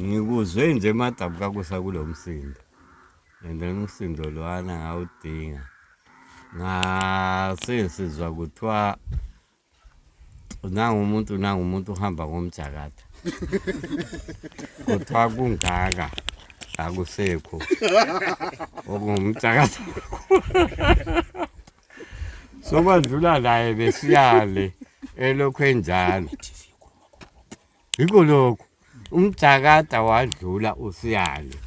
ngikuzwe nje emadabu kakusa kulo msindo and then umsindo lwana ngawudinga ngasesizwa kuthiwa nangumuntu nangumuntu uhamba ngomjakatha kuthiwa kungaka akusekho okungumjakatha sokwandlula naye besiyale elokhu enjalo yikho lokho umjakada wadlula usiyalo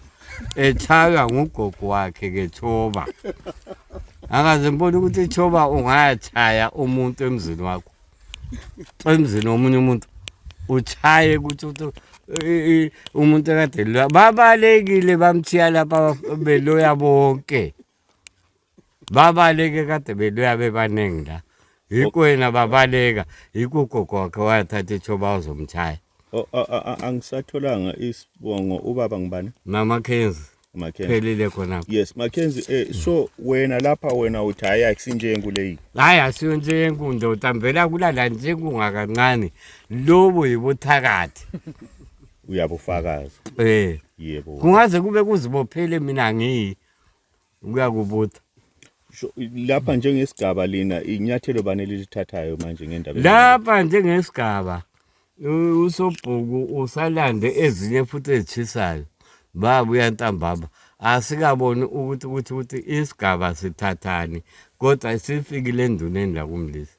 ethaywa ngugogo wakhe kethoba akaze mbona ukuthi ithoba ungayachaya umuntu emzini wakho emzini womunye umuntu uchaye ukuthi umuntu ekade lwa babalekile bamthiya lapha beloya bonke babaleke kade beluya bebaningi la yikho yena babaleka yikho ugogoke wayathatha ithoba uzomtshaya O- a- a- a- angisatholanga isibongo ubaba ngibani namakenzi Mackenzie. phelile khonapho yes Mackenzie eh, so wena lapha wena uthi hayi akusinjengu leyi hayi asiyo njengu ndoda mvela kulala njengungakancane lobo yibuthakathi uyabufakaza um yebo kungaze kube kuzibophele mina ngiyi kuyakubutha lapha njengesigaba lina inyathelo bani elilithathayo manje ngendaba lapha njengesigaba usobhuku usalande ezinye futhi ezitshisayo baba uyantambama asikaboni ukuthi ukuthi ukuthi isigaba sithathani kodwa sifikile enduneni lakumlisa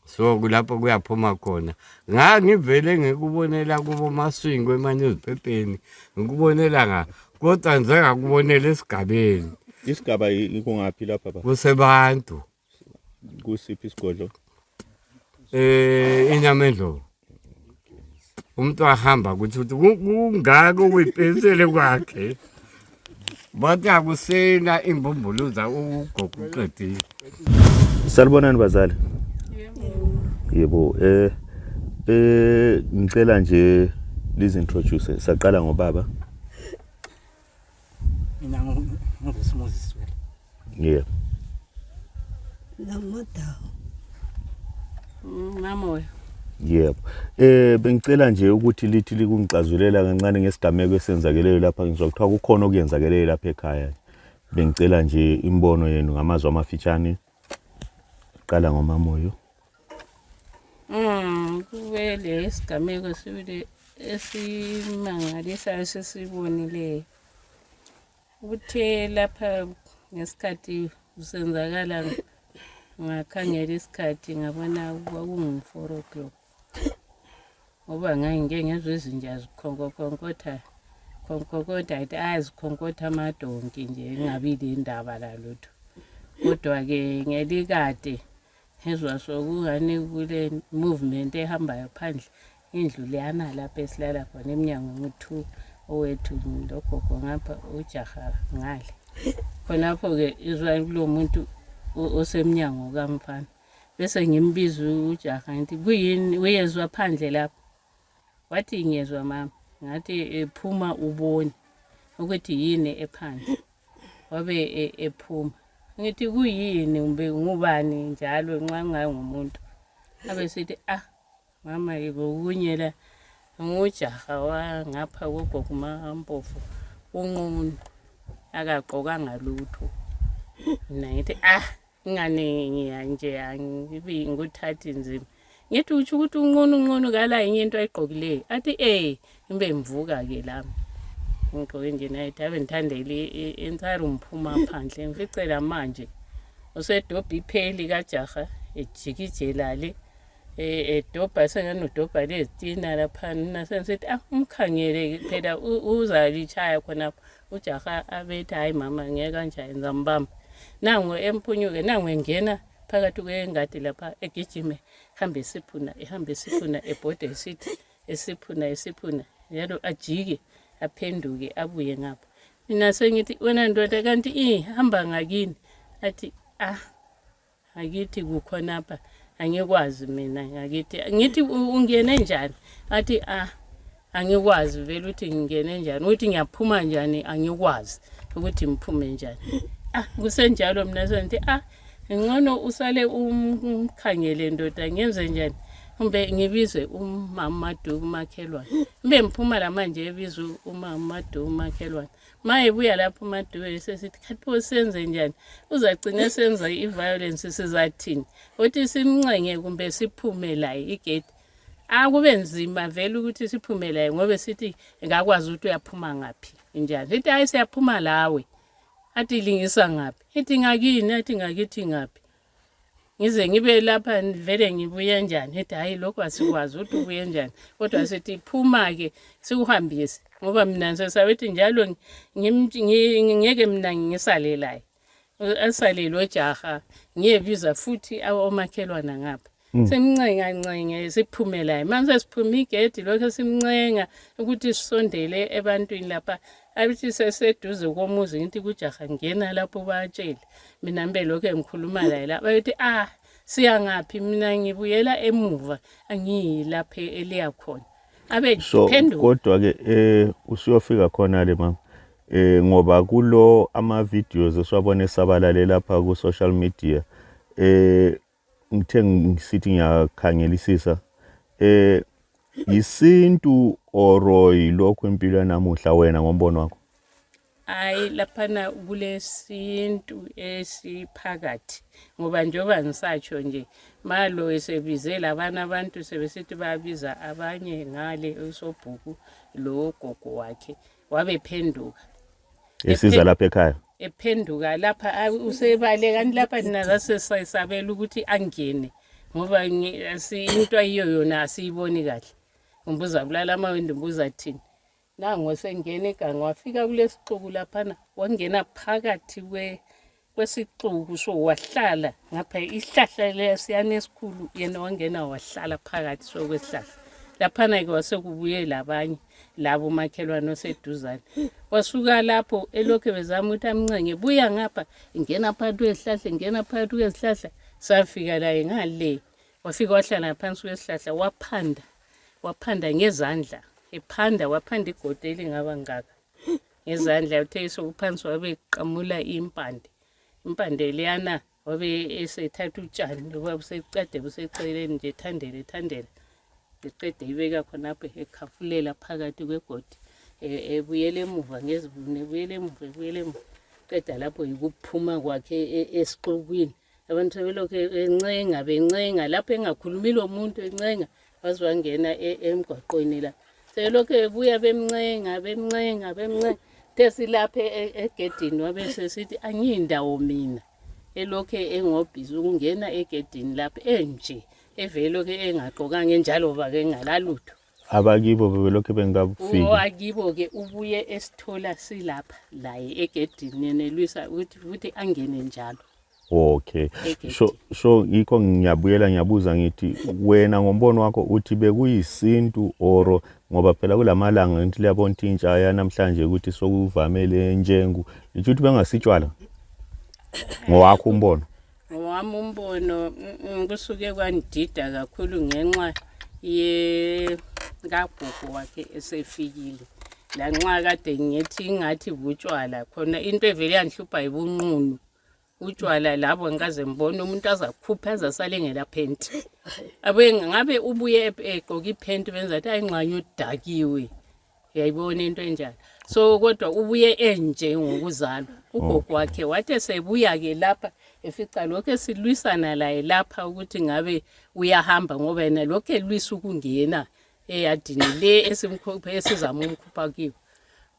so kulapho kuyaphuma khona ngangivele ngikubonela kubo maswingo emanyuziphepheni ngikubonela nga kodwa nje ngakubonela esigabeni isigaba ikungaphi lapha ba kusebantu kusiphi isigodlo eh inyama endlovu umuntu wahamba kuthi uthi ku- kungaka okuyipensele kwakhe bathi akusena imbumbuluza ugogo uqedile Salibonani bazali. Yebo eh eh ngicela nje lizintroduce saqala ngobaba. Mina nguSmoses wena. Yeah. Lamodawo. Mm, Mamoya. Yebo. Eh bengicela nje ukuthi lithi likungixazulela kancane ngesigameko esenzakeleyo lapha ngizwa kuthiwa kukhona okuyenzakeleyo lapha ekhaya. Bengicela nje imbono yenu ngamazwi amafitshane. Qala ngomamoyo. Mm, kube lesigameko sibili esimangalisayo sesibonileyo kuthe lapha ngesikhathi kusenzakala ngakhangela isikhathi ngabona kwakungu-four o'clock ngoba ngangike ngezwa izinja zikhonkokhonkoktha khonkokoda athi azikhonkotha amadonki nje ingabi lendaba lalutho kodwa-ke ngelikade ngezwa sokungani kule movement ehambayo phandle indlu leyana lapho esilala khona emnyango nguthu owethu logogo ngapha ujaha ngale khonapho-ke izwa kulo muntu osemnyango kamfana bese ngimbiza ujaha ngithi kuyini uyezwa phandle lapho wathi ngiyezwa mama ngathi ephuma ubone ukuthi yini ephandle wabe e- ephuma ngithi kuyini kumbe ngubani njalo nxa ngangumuntu abesithi ah mama yebo kunye la ngujaha wangapha kogogo mampofu unqunu akagqokanga lutho mina ngithi ah ingane ngiyanje angibi ngikuthathi nzima ngithi utsho ukuthi unqunu unqunu kala yinye into ayigqokileyo athi ee imbe mvuka ke lami ngigqoke nje nayithi ave ndithandele entire umphuma phandle ngificela manje usedobha ipheli kajaha ejikijela le e, edobha sengani udobha lezitina laphana senisithi ah umkhangele phela uzalitshaya khonapho ujaha abethi hayi mama ngeke kanje yenza mbamba nangu emphunyuke nangu engena phakathi kwengadi lapha egijime hambe esiphuna ehambe esiphuna ebhode esithi esiphuna esiphuna njalo ajike aphenduke abuye ngapha mina sengithi wena ndoda kanti ihamba ngakini athi ah akithi kukhonapha angikwazi mina ngakithi ngithi "U- ungene njani athi ah angikwazi vele ukuthi ngingene njani ukuthi ngiyaphuma njani angikwazi ukuthi ngiphume njani ah kusenjalo mina sengithi ah ngcono usale umkhangele ndoda ngenze njani kumbe ngibize umama maduku umakhelwane kumbe ngiphuma lamanje ebiza umama maduku umakhelwane ma ebuya lapho umadubeli sesithi khathi pho senze njani uzacine senza i-violence sizathini ukuthi simncenge kumbe siphume laye igedi akube nzima vele ukuthi siphume laye ngobe sithi ngakwazi ukuthi uyaphuma ngaphi njani sithi hayi siyaphuma lawe athi lingisa ngaphi ithi ngakini athi ngakithi ngaphi ngize ngibe lapha vele ngibuye njani ethi hhayi lokhu asikwazi ukuthi ubuye njani kodwa sithi phuma-ke sikuhambise ngoba mina ngisesabethi njalo ngeke mina ngisale laye asalelwe jaha ngiyebiza futhi omakhelwana ngapha Mm. simncenga ncenge siphume laye manje sesiphume igedi lokho simncenga ukuthi sisondele ebantwini lapha abithi seseduze komuzi ngithi kujaha ngena lapho batshele mina mbe lokho ngikhuluma laye la bayothi ah siyangaphi mina ngibuyela emuva angiyi lapha eliya khona abe so kodwa ke eh usiyofika khona le mama eh ngoba kulo ama videos esiwabona esabalale lapha ku social media eh ngithe ngisithi ngiyakhangelisisa eh yisintu oro yilokhu impilo yanamuhla wena ngombono wakho hayi laphana kulesintu esiphakathi ngoba njengoba ngisatsho nje malo esebize labana abantu sebesithi babiza abanye ngale usobhuku logogo wakhe wabephenduka esiza Ephe- lapha ekhaya ephenduka lapha a- usebale kanti lapha nina zasesabela ukuthi angene ngoba ngi- asi- into ayiyo yona asiyiboni kahle umbuza bulala amawindi umbuza thini nango sengena iganga wafika kulesixuku laphana wangena phakathi kwe kwesixuku so wahlala ngapha isihlahla lesiyana esikhulu yena wangena wahlala phakathi so kwesihlahla laphana-ke wasekubuye labanye labo makhelwane oseduzane wasuka lapho elokhu bezama ukuthi amncenge buya ngapha ngena phakathi kwezihlahla ngena phakathi kwezihlahla safika laye ngale wafika wahlala phansi kwesihlahla waphanda waphanda ngezandla ephanda waphanda igodo elingaba ngaka ngezandla uthe esokuphansi wabe qamula impande impande leyana wabe esethatha utshani loba buseqede buseceleni nje thandele thandele eqede ibeka khonapho ekhafulela phakathi kwegodi e, ebuyela emuva ngezibunu ebuyela emuva ebuyela emuva qeda lapho yikuphuma kwakhe e, esixukwini abantu belokhu encenga bencenga lapho engakhulumi lomuntu encenga baze bangena e-, emgwaqweni la sebelokhu bebuya bemncenga bemncenga bemncenga the silapha e-, egedini wabe sesithi angiyindawo mina elokhu engobhizi ukungena egedini lapho enje evelokhu engagqokanga enjalo ba kengalalutho abakibo bebelokhe bengikabufiki o akibo-ke ubuye esithola silapha laye egedini nenelwisa ukuthi futhi angene njalo okay so so yikho ngiyabuyela ngiyabuza ngithi wena ngombono wakho uthi bekuyisintu oro ngoba phela kulamalanga ngithi liyabona ukuthi intsha yanamhlanje ukuthi sokuvamele njengu ngithi ukuthi bengasitshwala ngowakho umbono ngowami umbono kusuke kwandida kakhulu ngenxa yekagogo wakhe esefikile lanxa kade ngithi ingathi butshwala khona into evele yanhlupha yibunqunu utshwala labo ngikaze ngibone umuntu azakhupha azasale ngelaphenti abuye ngabe ubuye egqoke iphenti benza athi ayingxanye udakiwe yayibona into enjani so kodwa ubuye enje ngokuzalwa ugogo wakhe wathi esebuya-ke lapha efica lokhu esilwisana laye lapha ukuthi ngabe uyahamba ngoba yena lokhu elwisa ukungena eyadini le esimkhuphe esizama umkhupha kiwo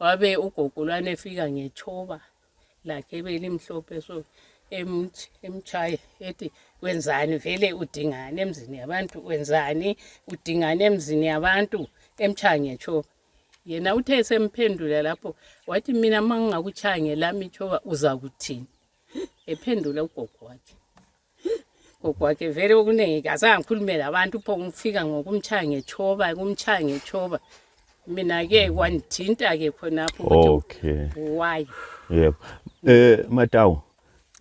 wabe ugogo lwana efika ngethoba lakhe belimhlophe so emtshaye ethi wenzani vele udingani emzini yabantu wenzani udingani emzini yabantu emtshaya ngetshoba yena uthe esemphendula lapho wathi mina ma ngingakutshaya ngelami itshoba uzakuthini ephendula ugogo wakhe ugwake vele okuningi kazange ngikhulume labantu pho ngifika ngokumtshaya ngetshoba kumtshaya ngetshoba mina-ke kwandithinta-ke khonapho okay why yebo eh matawu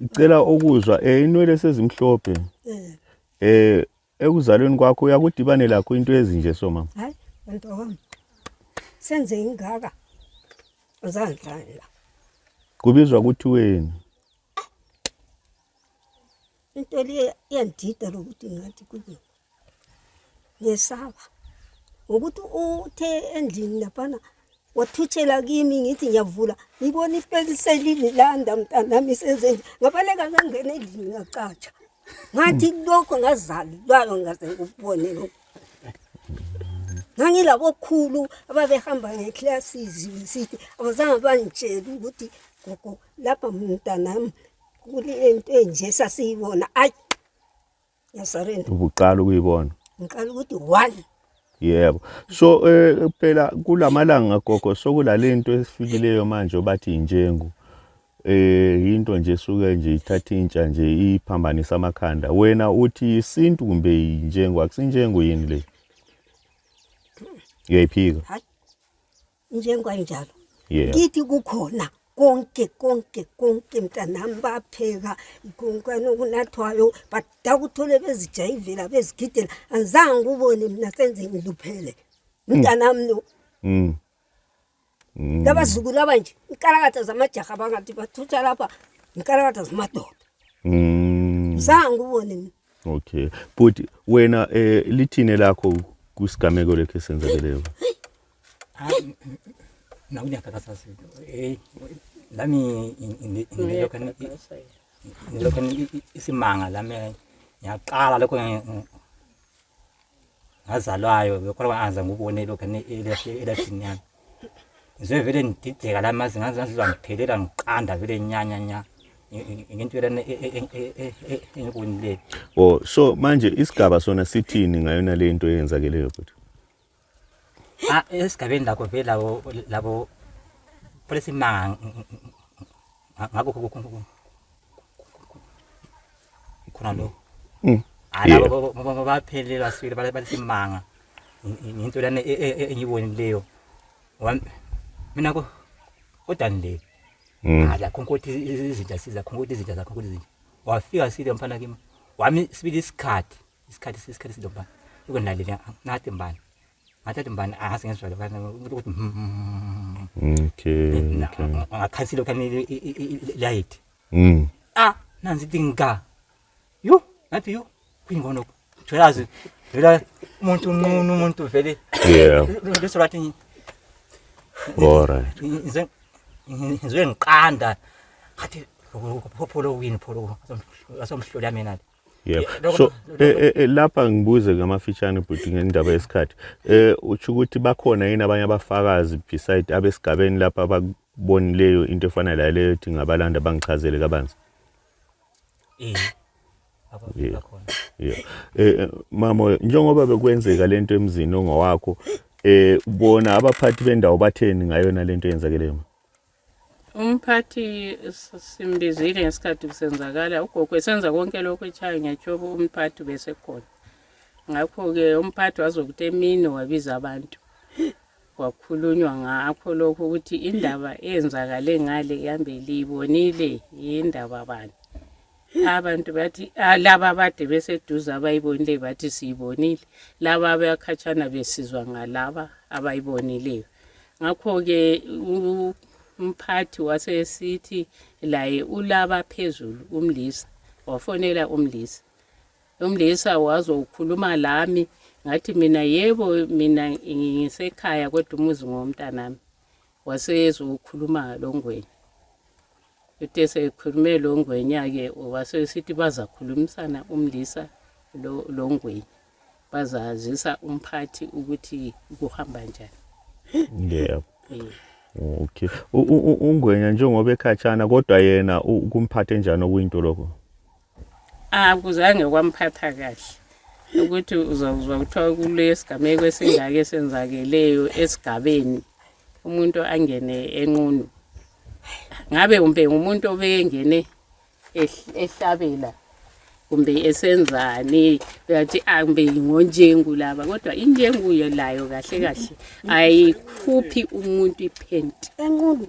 ngicela ukuzwa eh inwele sezimhlophe eh, eh ekuzalweni kwakho uyakudibane lakho into ezinje so mama hayi nto wami senze ingaka uzandlani la kubizwa kuthiweni into le iyandida lokuthi ngathi kuye ngiyesaba ngokuthi uthe endlini laphana wathutshela kimi ngithi ngiyavula ngibona ipekiselini landa mntanami isezenje ngabaleka ngangena endlini ngacatsha ngathi lokho ngazalilwayo ngaze ngikubone lokho ngangilabokhulu ababehamba ngeclasses sithi abazange bangitshela ukuthi gogo lapha mntanam kulento enje sasiyibona ayi yasarenda ubuqala ukuyibona ngiqala ukuthi one yebo so eh, phela kulamalanga gogo sokulalento esifikileyo manje obathi injengu eh into nje suke nje ithatha intsha nje iphambanisa amakhanda wena uthi isintu kumbe injengo akusinjengo yini le uyayiphika njenganjalo yeah. kithi kukhona konke konke konke mntanami bapheka konkani okunathwayo but dakuthole bezijayivela bezigidela angizange kubone mina senze ngiluphele mm. mntanami no mm. mm. labazukulu abanje inkalakatha zamajaha bangathi bathutha lapha inkalakatha zamadoda zange kubone mina okay bhuti wena um lithini lakho kwisigameko lekho esenzakeleyo Ah, nakuja kaka sasa. Eh, lami indiloka indiloka isimanga lami yaqala lokho ngazalwayo bekhola kwangaza ngubone lokho elashini yami ngizobe vele ngidideka lami mazi ngazizwa ngiphelela ngiqanda vele nyanya nya ngento lana engibonileyo o so manje isigaba sona sithini ngayona le nto eyenzakeleyo futhi Ah, esigabeni lakho vele labo labo polisimanga ngakho khona lo mm. ah, labo baphelelwa sibili balisimanga ngento lana e, e, e, engiyibonileyo mina ko kodani le mm. ala ah, khonkothi izinja siza khonkothi izinja zakho khonkothi izinja wafika sile mfana kimi wami sibili isikhathi isikhathi sesikhathi sidoba ukunalile ngathi mbani ngathi athi mbani ahasi ngezwa lokho ukuthi okay ngakhansi lokho light mm ah nanzi dinga yo ngathi yo kuyingono tholazi vela umuntu unqunu umuntu vele yeah leso lathi all right ngize ngize ngiqanda ngathi phopho lo wini pholo asomhlola mina yebo so eh, eh, eh, lapha ngibuze ngamafitshane bhuti ngendaba yesikhathi eh utsho ukuthi bakhona yini abanye abafakazi beside abesigabeni lapha abakubonileyo into efana la leyo ethi ngabalanda bangichazele kabanzi eh abakhona yeah eh mama njengoba bekwenzeka lento emzini ongowakho eh ubona abaphathi bendawo batheni ngayona lento yenzakeleyo Umphathi simbizile ngesikhathi kusenzakala ugogo esenza konke lokhu etshaya ngetshoko umphathi besekhona ngakho-ke umphathi wazokuthi emini wabiza abantu kwakhulunywa ngakho lokhu ukuthi indaba eyenzakale ngale ihambe liyibonile yindaba bani abantu bathi ah, laba abade beseduze abayibonile bathi siyibonile laba abakhatshana besizwa ngalaba abayibonileyo ngakho-ke umphathi wasesithi laye ulaba phezulu umlisa wafonela umlisa umlisa wazokhuluma lami ngathi mina yebo mina ngisekhaya kodwa umuzi ngowomntanami wasezokhuluma longweni uthe sekhulume longwenya-ke wasesithi bazakhulumisana umlisa longweni bazazisa umphathi ukuthi kuhamba njani yebo eh. okay ungwenya njengoba ekhatshana kodwa yena kumphathe njani okuyinto lokho akuzange kwamphatha kahle ukuthi uzakuzwa kuthiwa kulesigameko esingake esenzakeleyo esigabeni umuntu angene enqunu ngabe umbe ngumuntu obeyengene ehlabela kumbe esenzani uyathi ambe ah, ngonjengu laba kodwa injengu layo kahle kahle ayikhuphi umuntu iphenti enqulu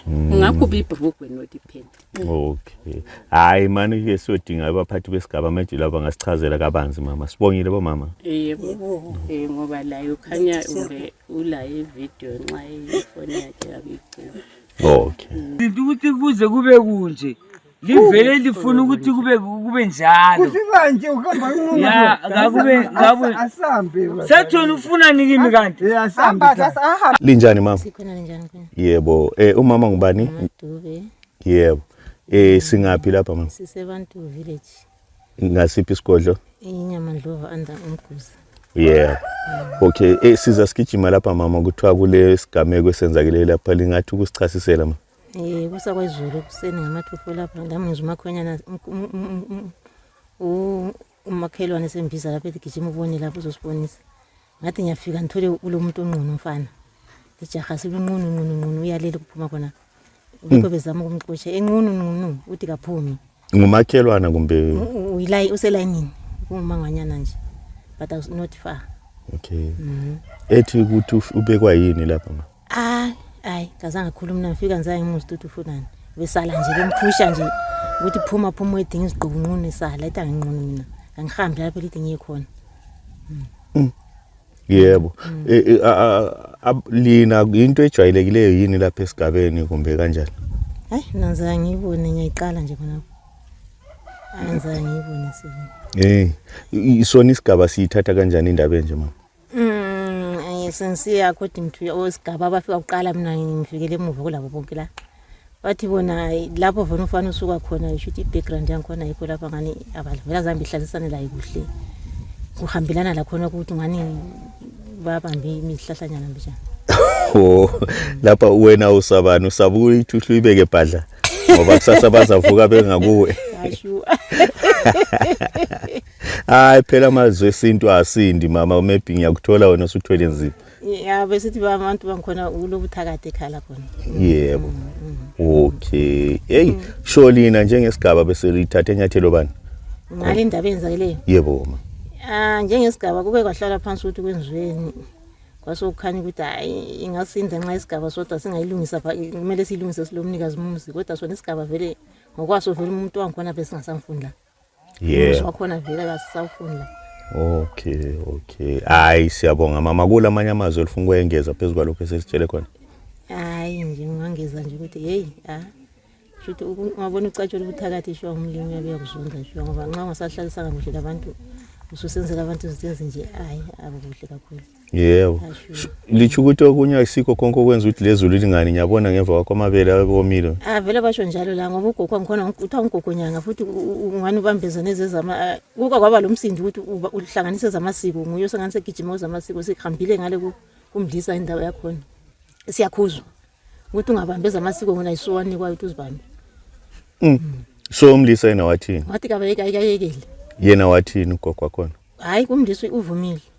Mm. ungakhupha ibhrugwe not iphenti okay hayi mani ke siyodinga abaphathi besigaba manje laba ngasichazela kabanzi mama sibongile bomama yebo eh ngoba layo khanya ube ulaye video nxa ifoni yakhe yabicima okay into ukuthi kuze kube kunje livele lifuna ukuthi kube kube njalo kusikanje uhamba ya ngakube ngakube asambe sethona ufuna nikimi kanti asambe linjani mama sikhona linjani yebo eh umama ngubani yebo eh singaphi lapha mama sisebantu village ngasiphi isigodlo inyama ndlova under umguza yeah okay eh siza sigijima lapha mama kuthiwa kule sigameko esenzakile lapha lingathi ukusichasisela ma eh kusa kwezulu ekuseni ngamathufo lapha lami ngizwa umakhwenyana umakhelwane sembiza lapha ethi gijima ubone lapho uzosibonisa ngathi ngiyafika ngithole kulomuntu onqunu umfana ijaha silunqunu nqunu nqunu uyalele kuphuma khona ubikho hmm. bezama ukumxosha enqunu nqunu uthi kaphumi ngumakhelwana kumbe uyilayi uselayinini kungumangwanyana nje but i was not far okay mm -hmm. ethi ukuthi ubekwa yini lapha mama Hayi, hayi, kazange akhuluma mina ngifika ngizange ngimuzi ukuthi ufunani. Besala nje bemphusha nje ukuthi phuma phuma uyidinga izigqubu nqunu isala ethi anginqunu mina. Kangihambi lapho lithi ngiye khona. Yebo. E- e- a- a- a- Lina into ejwayelekileyo yini lapha esigabeni kumbe kanjani? Hayi, mina ngizange ngiyibone ngiyayiqala nje khona. Hayi, ngizange ngiyibone sibona. Eh, i- sona isigaba siyithatha kanjani indaba enje mama? Mm, sensiya according to osigaba abafika kuqala mina ngifikele emuva kulabo bonke la bathi bona lapho vona ufana usuka khona yisho ukuthi i-background yangikhona yikho lapha ngani abavela zambe ihlalisane layo kuhle kuhambelana lakhona ukuthi ngani babambe imihlahlanyana mbijana o lapha wena usabani usaba ukuthi uhlu ibeke bhadla ngoba kusasa bazavuka bengakuwe hayi phela amazwi esintu asindi mama umebhi ngiyakuthola wena usuthwele nzima ya besithi abantu bangikhona kulobuthakathi ekhala khona yebo mm, mm, mm. okay heyi sho lina njengesigaba beselithathe enyathelo bani ngale ndaba eyenzakeleyo yebo ma um njengesigaba kube kwahlala phansi ukuthi kwenziweni kwasokukhanya ukuthi hayi ingasinda nxa isigaba sodwa singayilungisa kumele siyilungise silomnikazi mumzi kodwa sona isigaba vele ngokwaso vele umuntu wangikhona besingasamfundi lapha yeah. wakhona vele kasisafuni la okay okay hayi siyabonga mama kula manye amazwi olifuna ukuyengeza phezu kwalokho esesitshele khona hayi nje ngangeza nje ukuthi hey ah shuthi ungabona ucatshula ubuthakathi sho umlimi yabe yakuzonda sho ngoba nxa ungasahlalisanga kuhle labantu ususenzela abantu izinto ezinje hayi akukuhle kakhulu yebo litsho ukuthi okunye akusikho konke okwenza ukuthi lezulu lingani ngiyabona ngemva kwakho amabele abomile ah vele basho njalo la ngoba ugogo angikhona kuthiwa ngugogo nyanga futhi ungani ubambeza nezezama ah, kuka kwaba lo msindi ukuthi uhlanganise zamasiko nguye osengani segijima uzamasiko sihambile ngale kumdlisa indawo yakhona siyakhuzwa ukuthi ungabambeza amasiko ngona yisuwanikwayo ukuthi uzibambe mm. mm. so umlisa yena wathini wathi kabayeke ayikayekele yena wathini ugogo wakhona hayi kumdlisa uvumile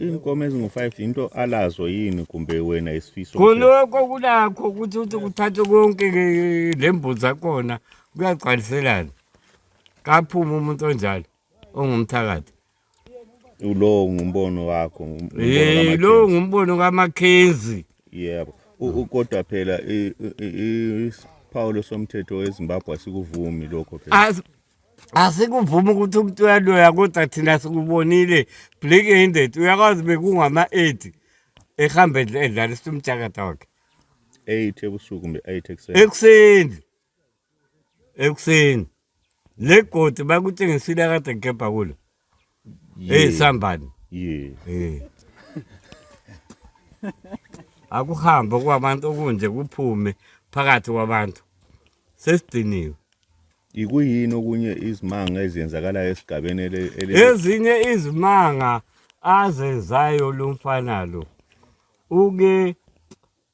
inkomo ezingu-five yinto alazo yini kumbe wena isifiso khonokho kulakho ukuthi ukuthi kuthathwe konke lembuzi zakhona kuyagcwaliselana kaphume umuntu onjalo ongumthakathi lowo ngumbono wakho um lowo ngumbono kamakhenzi yebo kodwa phela isiphawulo somthetho wezimbabwe asikuvumi lokho phela asikuvumi ukuthi umuntu uyaloya kodwa thina sikubonile black handed uyakwazi bekungama-eight ehambe edlalisa umjakada wakhe eight ebusuku kumbe eight ekuseni ekuseni ekuseni le godi bakutshengisile akade gebha kulo Eh sambani. Yeah. Eh. Akuhambe kwabantu okunje kuphume phakathi kwabantu. Sesidiniwe. Ikuyini okunye izimanga ezenzakalayo esigabeni ele Ezinye izimanga azenzayo lomfana lo. Uke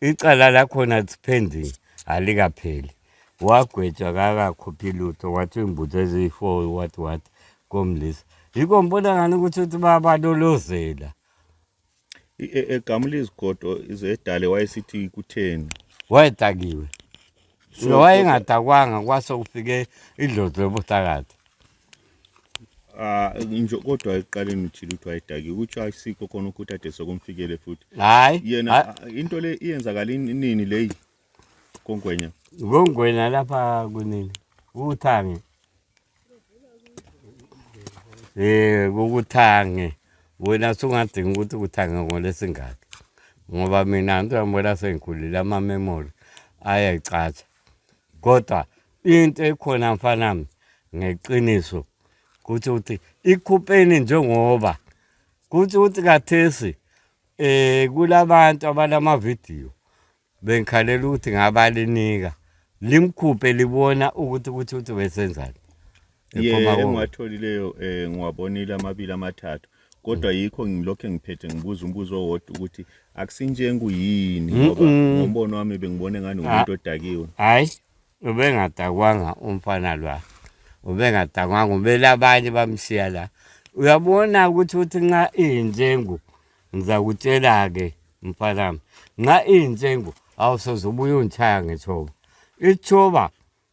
icala lakhona it's pending alikapheli wagwetshwa kakakhuphi lutho wathi imbuzo eziyi-four what what komlisa yikho ngibona ngani ukuthi uthi babalolozela E- e- egamula izigodo zedale wayesithi kutheni wayedakiwe So, wayengadakwanga kwase kufike idlozi lobuthakathi Ah, nje kodwa ekuqaleni uthile ukuthi wayedaki ukuthi ayisikho khona ukuthi ade sokumfikele futhi hayi yena into le iyenzakala inini leyi kongwenya kongwenya lapha kunini uthange eh ukuthange wena sungadinga ukuthi ukuthange ngolesingaki ngoba mina ngizambona sengikhulile ama memory ayayicatsha kodwa into ekhona mfanami ngeqiniso kuthi ukuthi ikhupheni njengoba kuthi ukuthi kathesi eh kulabantu abalama video bengikhalela ukuthi ngabalinika limkhuphe libona ukuthi ukuthi ukuthi besenzani Ephuma kuwe. engiwatholileyo eh, ngiwabonile amabili amathathu kodwa yikho ngilokhu engiphethe ngibuza umbuzo owodwa ukuthi akusinjengu yini ngoba ngombono wami bengibone ngani ngumuntu odakiwe hayi ubengadakwanga umfana lwa ubengadakwanga ubele abanye bamshiya la uyabona ukuthi uthi nxa iyinjengu ngizakutshela-ke mfanami nxa iyinjengu awusoze ubuye ungitshaya ngethoba ithoba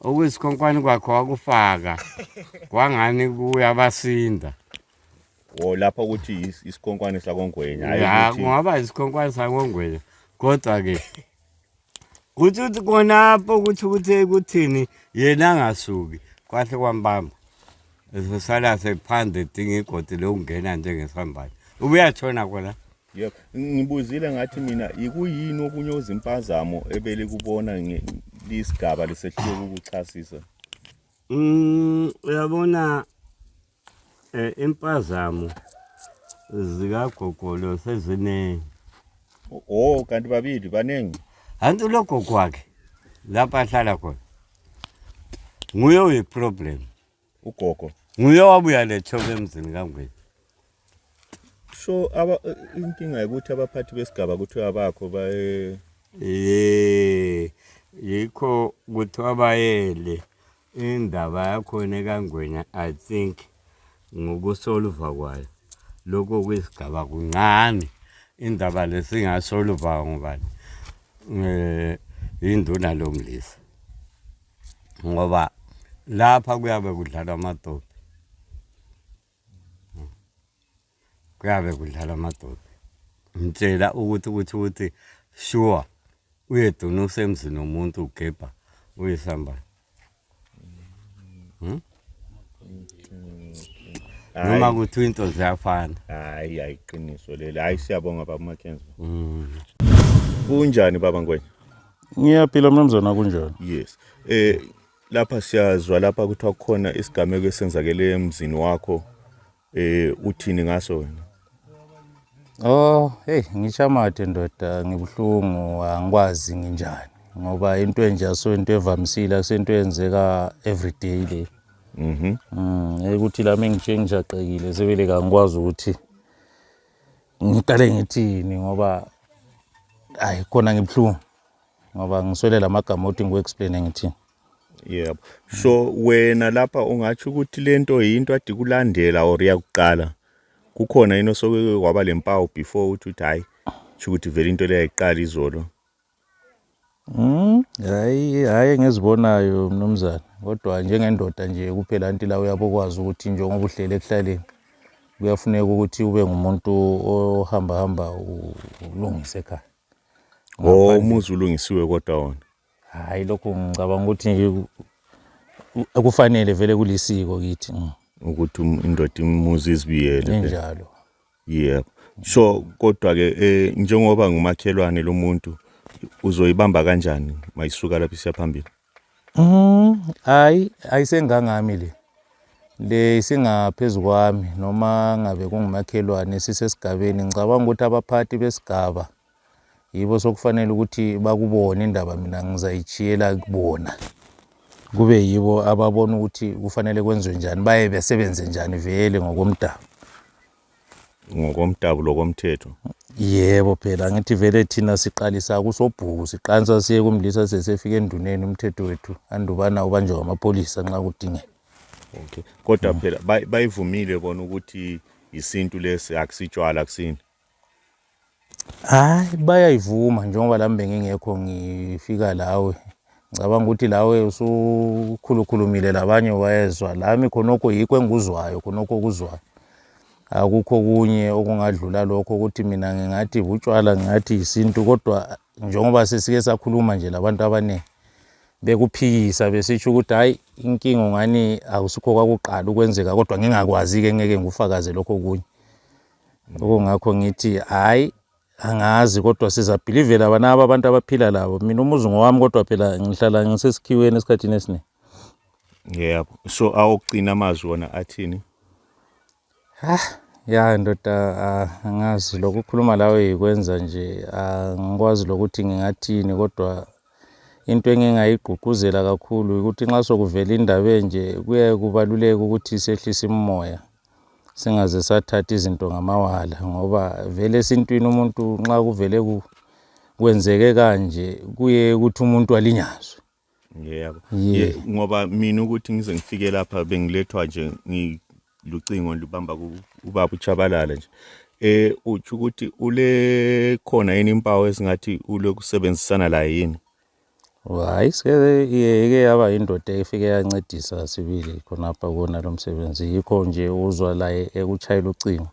okuyisikhonkwane kwakho wakufaka kwangani kuyabasinda o oh, lapha ukuthi isikhonkwane sakongwenya ya kungaba isikhonkwane sakongwenya kodwa-ke kuthi ukuthi konapho ukuthi ukuthi kuthini yena angasuki kwahle kwambamba esesala sephandle dinga igodi lokungena njengesambane ubuyatshona kona ngibuzile ngathi mina ikuyini okunye ozimpazamo ebelikubona lisigaba lisehluleka ukuchasisa mm, uyabona um impazamo zikagogolo seziningi o oh, kanti babili baningi hanti ulogogo wakhe lapho ahlala khona nguye uyiproblem ugogo nguye wabuya letshoke emzini kangwini so aba inkinga yokuthi abaphathi besigaba kuthiwa bakho baye eh yikho kuthiwa bayele indaba yakhona ekangwenya i think ngokusoluva kwayo lokho kwisigaba kuncane indaba lesingasoluva ngubani um yinduna lomlisa ngoba lapha kuyabe kudlalwa amadobi kuyabe kudlalwa amadobi ngitshela ukuthi ukuthi ukuthi sure uyeduna usemzini womuntu ugebha uyisambane hmm? noma kuthi into ziyafana hayi ayiqiniso leli hayi siyabonga baba umakhenza mm. kunjani baba ngwenya ngiyaphila mnumzana kunjani yes eh lapha siyazwa lapha kuthiwa kukhona isigameko esenzakele emzini wakho Eh uthini ngaso wena? Oh, hey ngishamathe ndoda ngibuhlungu angikwazi nginjani ngoba into enje asonto evamisile asento yenzeka everyday le. Mhm. Mm, ukuthi la mengithe ngijaqekile sebele kangikwazi ukuthi ngiqale ngithini ngoba hayi khona ngibuhlungu ngoba ngiswele lamagama othi ngiku-explaine ngithini. yebo so wena lapha ungatsho ukuthi lento yinto adi kulandela or yakuqala kukhona yini osoke waba lempawu before uthi uthi hayi tsho ukuthi vele into leyo yayiqala izolo Hmm, hayi hayi engizibonayo mnumzane kodwa njengendoda nje kuphela anti la uyabokwazi ukuthi njengoba uhlele ekuhlaleni kuyafuneka ukuthi ube ngumuntu ohambahamba ulungise ekhaya. Oh, umuzi ulungisiwe kodwa wona. Hayi lokhu ngicabanga ukuthi kufanele vele kulisiko kithi. Mm. Ukuthi um, indoda imuzi izibiyele. Injalo. Yebo. So kodwa ke eh, njengoba ngumakhelwane lomuntu uzoyibamba kanjani mayisuka lapha isiya phambili? Mhm. Hayi ayisengangami le. Le isingaphezulu kwami noma ngabe kungumakhelwane sisesigabeni ngicabanga ukuthi abaphathi besigaba yibo sokufanele ukuthi bakubone indaba mina ngizayitshiyela kubona kube yibo ababona ukuthi kufanele kwenziwe njani baye besebenze njani vele ngokomdabu ngokomdabu lokomthetho yebo phela ngithi vele thina siqalisa kusobhuku siqansa siye kumlisa sesefika enduneni umthetho wethu andubana ubanjwe ngamapholisa nxa kudingeka okay kodwa phela bayivumile bona ukuthi yisintu lesi akusitshwala kusini Hayi bayayivuma njengoba lami bengingekho ngifika lawe ngicabanga ukuthi lawe usukhulukhulumile labanye wayezwa lami khonokho yikho engikuzwayo khonokho okuzwayo akukho okunye okungadlula lokho ukuthi mina ngingathi butshwala ngingathi yisintu kodwa njengoba sesike sakhuluma nje labantu abaningi bekuphikisa besitsho ukuthi hhayi inkinga ngani akusikho kwakuqala ukwenzeka kodwa ngingakwazi-ke ngeke ngikufakaze lokho kunye Ngakho ngakho ngithi hayi angazi kodwa sizabhilivela banaba abantu abaphila labo mina umuzi ngowami kodwa phela ngihlala ngisesikhiweni esikhathini esiningi yebo so awokugcina amazwi wona athini ha ya ndoda ah, angazi lokukhuluma lawe yikwenza nje angikwazi ah, lokuthi ngingathini kodwa into engingayigqugquzela kakhulu ukuthi nxa sokuvela indaba enje kuyaye kubaluleke ukuthi sehlise imimoya singaze sathatha izinto ngamawala ngoba vele esintwini umuntu nxa kuvele kwenzeke kanje kuye ukuthi umuntu alinyazwe yebo yeah. ngoba mina ukuthi ngize ngifike lapha bengilethwa nje ngilucingo lubamba ubaba uchabalala nje eh uthi ukuthi ule khona yini impawu esingathi ulokusebenzisana la yini Hayi sike iyeke yaba yindoda efike yancedisa sibili khonapha kuwona lo msebenzi yikho nje uzwa laye ekutshayela ucingo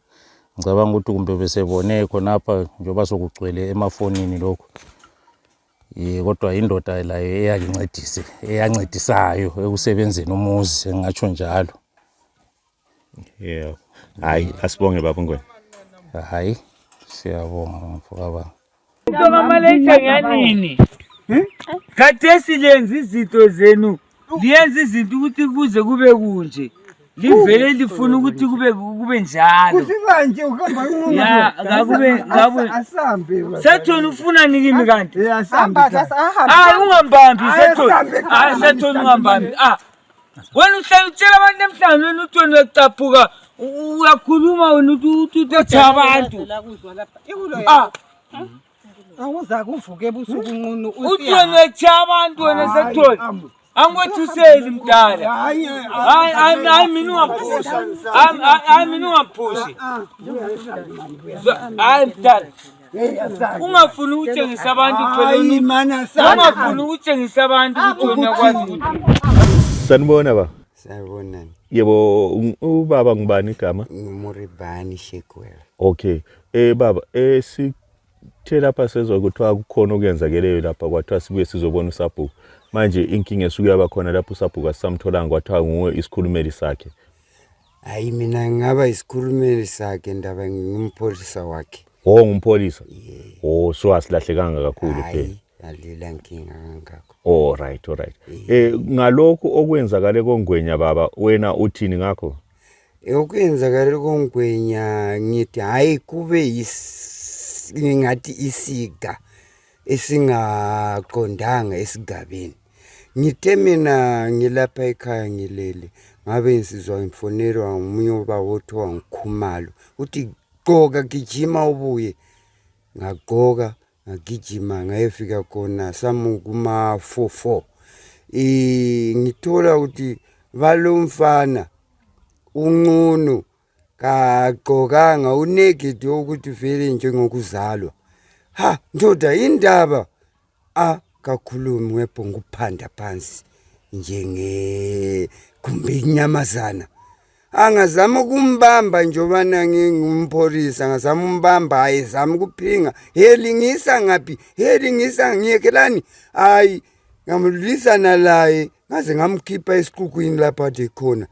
ngicabanga ukuthi kumbe besebone khonapha njengoba sokugcwele emafonini lokhu um kodwa yindoda layo eyakincedise eyancedisayo ekusebenzeni umuzi engatsho njalo yebo hayi asibonge baba ngwena hayi siyabonga bamfo kababa Mntoma malayitha nganini khathesi lenza izinto zenu liyenza izinto ukuthi kuze kube kunje livele lifuna ukuthi kube kube njalo Kusimanje uhamba Ya, ngakube- ngakube- asambe baba. sethoni ufuna nikimi kanti Eh, asambe Hamba, cha. sasa, ahamba. hayi ungambambi sethoni Ayisambe, hayi sethoni ungambambi ah wena uhlawuthela abantu emhlawumeni uthi wena uyacaphuka uyakhuluma wena uthethe abantu awuza kuvuka ebusuku nqunu uthi wena uyethe abantu wena sekuthole angikwethuseli mdala hayi mina ungamphusi hayi mina ungamphusi hayi mdala ungafuni ukutshengisa abantu ungafuni ukutshengisa abantu ukuthi wena kwazi ukuthi sanibona ba sanibonani yebo ubaba ngubani igama ngumuribani shekwela okay eh baba eh si the lapha sezwa kuthiwa kukhona okuyenzakeleyo lapha kwathiwa sibuye sizobona usabhuku manje inkinga esuke yaba khona lapho usabhuku asisamtholanga kwathiwa nguwe isikhulumeli sakhe Hayi mina ngingaba isikhulumeli sakhe ndaba ngingumpholisa wakhe. Oh ngumpholisa. Yeah. Oh so asilahlekanga kakhulu phela. Hayi ngalila nkinga kangakho. Oh right, all right. Eh ngalokho okwenzakale kongwenya baba wena uthini ngakho? Okwenzakale kongwenya ngithi hayi kube yis ngingathi isiga esingaqondanga esigabeni. ngithe mina ngilapha ekhaya ngilele ngabe nsizwa ngifonelwa ngomunye ubaba othiwa ngikhumalo uthi gqoka gijima ubuye ngagqoka ngagijima ngayefika khona samukuma-four four um ngithola ukuthi balomfana uncunu kagqokanga unegidi wokuthi vele njengokuzalwa ha ndoda indaba a kakhulumi webhonga ukuphanda phansi njenge kumbe inyamazana angazama ukumbamba njobana ngingumpholisa angazama umbamba ayezama ukuphinga helingisa ngaphi helingisa ngiyekelani hayi ngamlwisana laye ngaze ngamkhipha esiqukwini lapho ade khona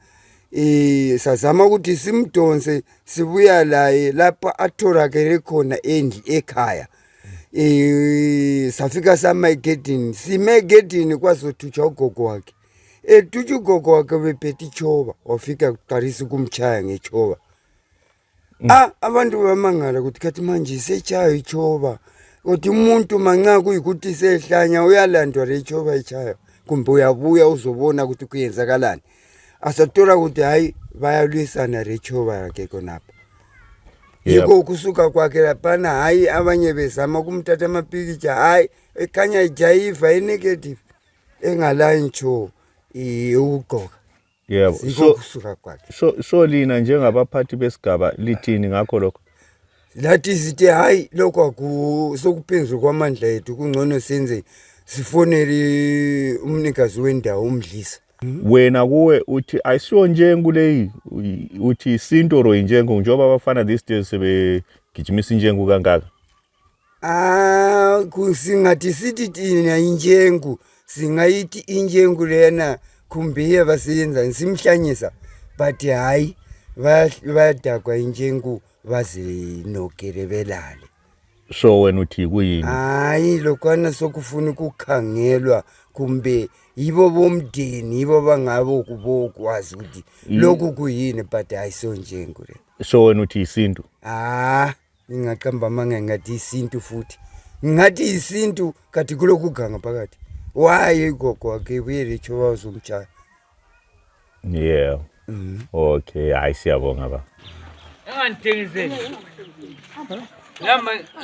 um sazama ukuthi simdonse sibuya laye lapho atholakele khona endli ekhaya um safika sama egedini sime egedini kwazothutshwa ugogo wakhe etutsha ugogo wakhe bephethe ichoba wafika kuqalisa ukumtshaya ngechoba mm. ah, abantu bamangala ukuthi khathi manje isetshayo itshoba kodwa umuntu manxa kuyikuthi isehlanya uyalandwa le itshoba itshayo kumbe uyabuya uzobona ukuthi kuyenzakalani asatola ukuthi hhayi bayalwisana le tshoba yakhe khonapha yiko ukusuka kwakhe laphana hayi abanye bezama ukumthatha amapikitsha hayi ekhanya ijayiva enegative engalayi ntsho ukugqoka yebo so kusuka kwakhe so so lina njengabaphathi besigaba lithini ngakho lokho lathi sithi hayi lokho akusokuphezulu kwamandla ethu kungcono senze sifonele umnikazi wendawo umdlisa wena kuwe uthi ayisiyo njengu leyi uthi isinto or injengu njengoba abafana these days sebegijimisa injengu kangaka Ah, singathi sithi thina injengu singayithi injengu lena khumbiye basiyenzani simhlanyisa but hhayi bayadagwa injengu bazinogele belale so wena uthi kuyini hhayi lokwana sokufuna ukukhangelwa kumbe yibo bomndeni yibo bangabo kubokwazi ukuthi lokhu kuyini but hhayi sonjengu le so wena uthi yisintu ah ingaqamba amanga ingathi isintu futhi ngathi isintu kati kulokuganga phakathi waye igogo wakhe ibuye letsho wazomtshaya yeah mm -hmm. okay hayi siyabonga ba engandithengiseli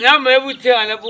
lama ebuthenga lapho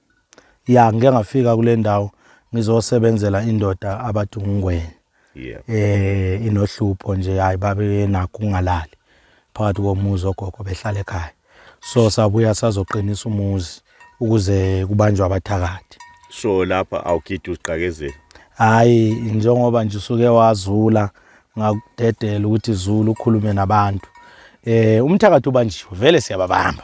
ya ngike ngafika kule ndawo ngizosebenzela indoda abathi ungwenya yeah. eh inohlupho nje hayi babe nakho ungalali phakathi komuzi ogogo behlala ekhaya so sabuya sazoqinisa umuzi ukuze kubanjwe abathakathi so lapha awugidi uziqakezela hayi njengoba nje usuke wazula ngakudedela ukuthi zulu ukhulume nabantu eh umthakathi ubanjiwe vele siyababamba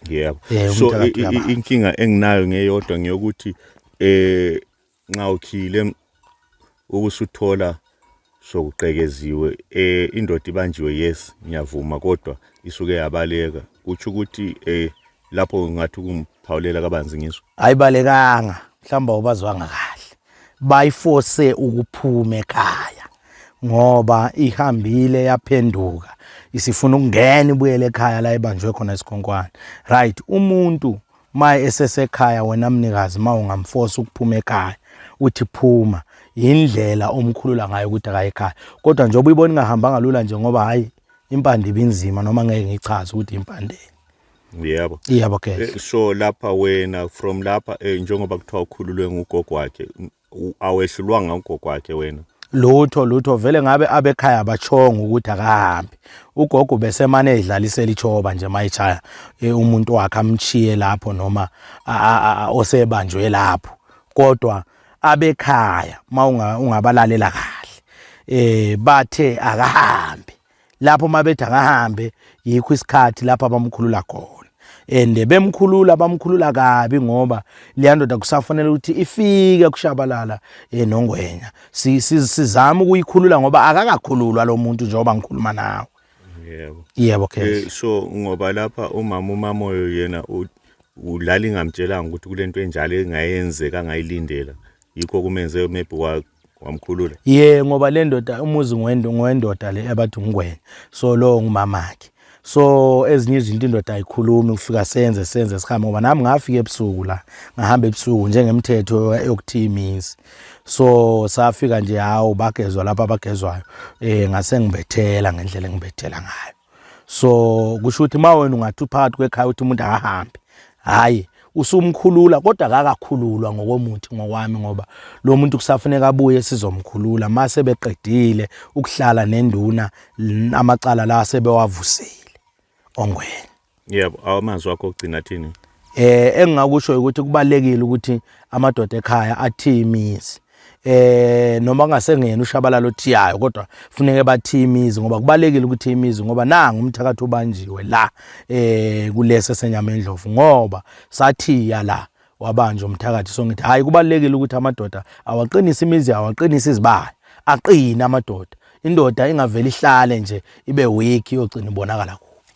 yebo yeah, so inkinga enginayo ngeyodwa ngiyokuthi eh nxa ukhile ukusuthola sokuqekeziwe eh indoda ibanjiwe yes ngiyavuma kodwa isuke yabaleka kutsho ukuthi eh lapho ngathi ukumphawulela kabanzi ngiso ayibalekanga mhlawumbe ubazwanga kahle bayiforce ukuphuma ekhaya ngoba ihambile yaphenduka isifuna ukungena ibuyele ekhaya la ibanjwe khona isikhonkwane right umuntu maye esesekhaya wena mnikazi ma ungamfosa ukuphuma ekhaya uthi phuma yindlela omkhulula ngayo ukuthi akayekhaya kodwa njengoba uyibona ingahambanga lula nje ngoba hayi impande ibinzima noma ngeke ngichaze ukuthi impande yebo yebo ke eh, so lapha wena from lapha eh, njengoba kuthiwa ukhululwe ngugogo wakhe awehlulwanga ugogo wakhe wena lutho lutho vele ngabe abekhaya bachonga ukuthi akahambi ugogo besemane edlalisela ichoba nje mayichaya e, umuntu wakhe amchiye lapho noma osebanjwe lapho kodwa abekhaya mawungabalalela kahle eh bathe akahambi lapho mabethi angahambe yikho isikhathi lapho abamkhulula khona and bemkhulula bamkhulula kabi ngoba leyandoda kusafanele ukuthi ifike kushabalala enongwenya eh, sizama ukuyikhulula ngoba akakakhululwa lo muntu njengoba ngikhuluma nawe yebo yebo ke eh, so ngoba lapha umama umamoyo yena ulala ingamtshelanga ukuthi kulento enjalo engayenzeka angayilindela yikho kumenze maybe wamkhulula ye ngoba le ndoda umuzi ngowendoda le abathi ngwenya so lowo ngumamakhe so ezinye izinto indoda ayikhulumi kufika senze senze sihambe ngoba nami ngafika ebusuku la ngahamba ebusuku njengemthetho yokuthiya imizi so safika nje hawu bagezwa lapha abagezwayo um eh, ngase ngibethela ngendlela engibethela ngayo so kusho ukuthi uma wena ungathi uphakathi kwekhaya ukuthi umuntu akahambe hhayi usumkhulula kodwa kakakhululwa ngokomuthi ngokwami ngoba lo muntu kusafuneka abuye sizomkhulula mase beqedile ukuhlala nenduna amacala la sebewavusile ongwena yebo amazwi wakho ogcina thini eh engingakusho ukuthi kubalekile ukuthi amadoda ekhaya athi imizi eh noma kungasengena ushabalalo othiyayo kodwa funeke bathi imizi ngoba kubalekile ukuthi imizi ngoba nangu umthakathi ubanjiwe la eh kulese senyama endlovu ngoba sathiya la wabanje umthakathi so ngithi hayi kubalekile ukuthi amadoda awaqinise imizi awaqinise izibaya aqine amadoda indoda ingaveli ihlale nje ibe weak yogcina ibonakala